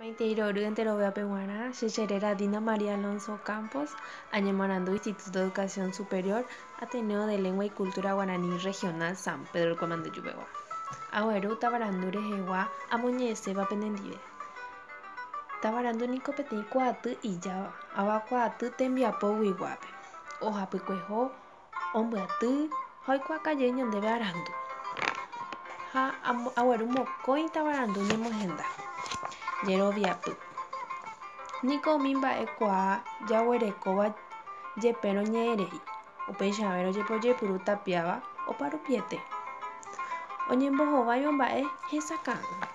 Maitei rory enteroveápe g̃uarã, che che réra Dina María Alonso Ocampos, añemoarandu Instituto de Educación Superior, Ateneo de Lengua y Cultura Guaraní Regional San Pedro Rkue Mandujuvegua. Agueru tavarandu rehegua amoñe'ẽséva penendive. Tavarandu niko peteĩ kuaaty ijáva, avakuaaty tembiapo guiguápe. Ohapykueho, Ombyaty ha oikuaakaje ñandéve arandu. Ha agueru mokõi tavarandu ñemohenda. Jeroviapy. Niko umi mba'e kuaa jaguerekóva jepe roñe'ẽrei, upeichave rojepe ojeipuru tapiáva oparupiete. Oñembohováiva mba'e hesakã'ỹva.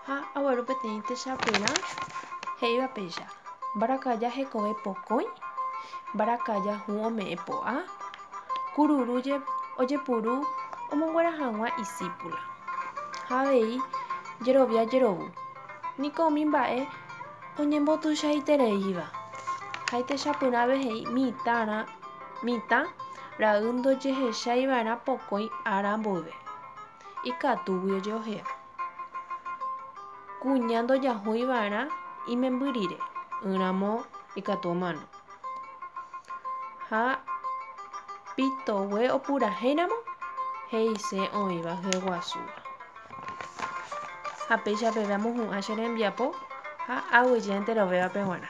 Ha agueru peteĩ techapyrã he'íva péicha, Mbarakaja hekove pokõi, mbarakaja hũ ome'ẽ po'a, kururu ojepuru omonguera hag̃ua isípula. Ha avei jerovia jerovu, niko umi mba'e oñembotuichaitereíva. Ha itechapyrãve he'i mitãrã, mitã ra'y ndojehechái va'erã pokõi ára mboyve. Ikatúgui ojeohea. Kuña ndojahúi va'erã imemby rire, ỹramo ikatu omano. Ha pitogue opurahéiramo, he'ise oĩva hyeguasúva. Ha péicha peve amohu'ã che rembiapo ha aguyje enterovévape g̃uarã.